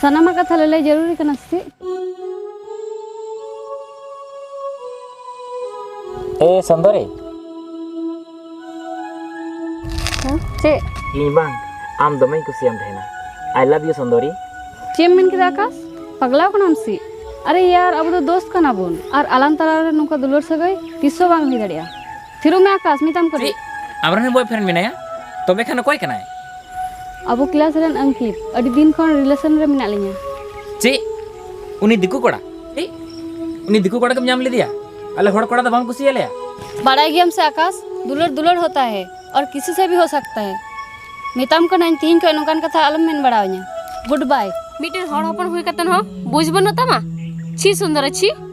ᱥᱟᱱᱟᱢᱟᱜ ᱠᱟᱛᱷᱟ ᱞᱟᱹᱞᱟᱹᱭ ᱡᱟᱹᱨᱩᱨᱤ ᱠᱟᱱᱟ ᱥᱮ ᱪᱮᱫ? ᱮ ᱥᱩᱱᱫᱚᱨᱤ ᱦᱮᱸ ᱪᱮᱫ? ᱤᱧ ᱵᱟᱝ ᱟᱢ ᱫᱚᱢᱮᱧ ᱠᱩᱥᱤᱭᱟᱢ ᱛᱟᱦᱮᱱᱟ ᱟᱭ ᱞᱟᱵᱷ ᱭᱩ ᱥᱩᱱᱫᱚᱨᱤ ᱪᱮᱫ ᱮᱢ ᱢᱮᱱ ᱠᱮᱫᱟ ᱟᱠᱟᱥ ᱯᱟᱜᱽᱞᱟᱣ ᱠᱟᱱᱟᱢ ᱥᱮ ᱟᱨᱮ ᱭᱟᱨ ᱟᱵᱚ ᱫᱚ ᱫᱳᱥᱛ ᱠᱟᱱᱟ ᱵᱚᱱ ᱟᱨ ᱟᱞᱟᱝ ᱛᱟᱞᱟ ᱨᱮ ᱱᱚᱝᱠᱟ ᱫᱩᱞᱟᱹᱲ ᱥᱟᱹᱜᱟᱹᱭ ᱛᱤᱥ ᱦᱚᱸ ᱵᱟᱝ ᱦᱩᱭ ᱫᱟᱲᱮᱭᱟᱜᱼᱟ ᱛᱷᱤᱨᱩ ᱢᱮ ᱟᱠᱟᱥ ᱢᱮᱛᱟᱢ ᱠᱟᱹᱱᱟᱹᱧ ᱪᱮᱫ ᱟᱢᱨᱮᱱ ᱵᱚᱭ ᱯᱷᱨᱮᱱᱰ ᱢᱮᱱᱟᱭᱟ ᱛᱚᱵᱮ ᱠᱷᱟᱱ ᱚᱠᱚᱭ ᱠᱟᱱᱟᱭ ᱟᱵᱚ ᱠᱞᱟᱥ ᱨᱮᱱ ᱟᱝᱠᱤᱛ ᱟᱹᱰᱤ ᱫᱤᱱ ᱠᱷᱚᱱ ᱨᱤᱞᱮᱥᱚᱱ ᱨᱮ ᱢᱮᱱᱟᱜ ᱞᱤᱧᱟ ᱪᱮᱫ ᱩᱱᱤ ᱫᱤᱠᱩ ᱠᱚᱲᱟ ᱪᱮᱫ ᱩᱱᱤ ᱫᱤᱠᱩ ᱠᱚᱲᱟ ᱜᱮᱢ ᱧᱟᱢ ᱞᱮᱫᱮᱭᱟ ᱟᱞᱮ ᱦᱚᱲ ᱠᱚᱲᱟ ᱫᱚ ᱵᱟᱢ ᱠᱩᱥᱤᱭᱟᱞᱮᱭᱟ ᱵᱟᱲᱟᱭ ᱜᱮᱭᱟᱢ ᱥᱮ ᱟᱠᱟᱥ ᱫᱩᱞᱟᱹᱲ ᱫᱩᱞᱟᱹᱲ ᱦᱚᱛᱟ ᱦᱮ ᱟᱨ ᱠᱤᱥᱤ ᱥᱮ ᱵᱷᱤ ᱦᱚ ᱥᱟᱠᱛᱟ ᱦᱮ ᱢᱮᱛᱟᱢ ᱠᱟᱹᱱᱟᱹᱧ ᱛᱤᱦᱤᱧ ᱠᱷᱚᱱ ᱱᱚᱝᱠᱟᱱ ᱠᱟᱛᱷᱟ ᱟᱞᱚᱢ ᱢᱮᱱ ᱵᱟᱲᱟᱣᱟᱹᱧᱟ ᱜᱩᱰ ᱵᱟᱭ ᱢᱤᱫᱴᱮᱱ ᱦᱚᱲ ᱦᱚᱯᱚᱱ ᱦᱩᱭ ᱠᱟᱛᱮ ᱦᱚᱸ ᱵᱩᱡᱽ ᱵᱟᱹᱱᱩᱜ ᱛᱟᱢᱟ ᱪᱷᱤ ᱥᱩᱱᱫᱚᱨᱟ ᱪᱷᱤ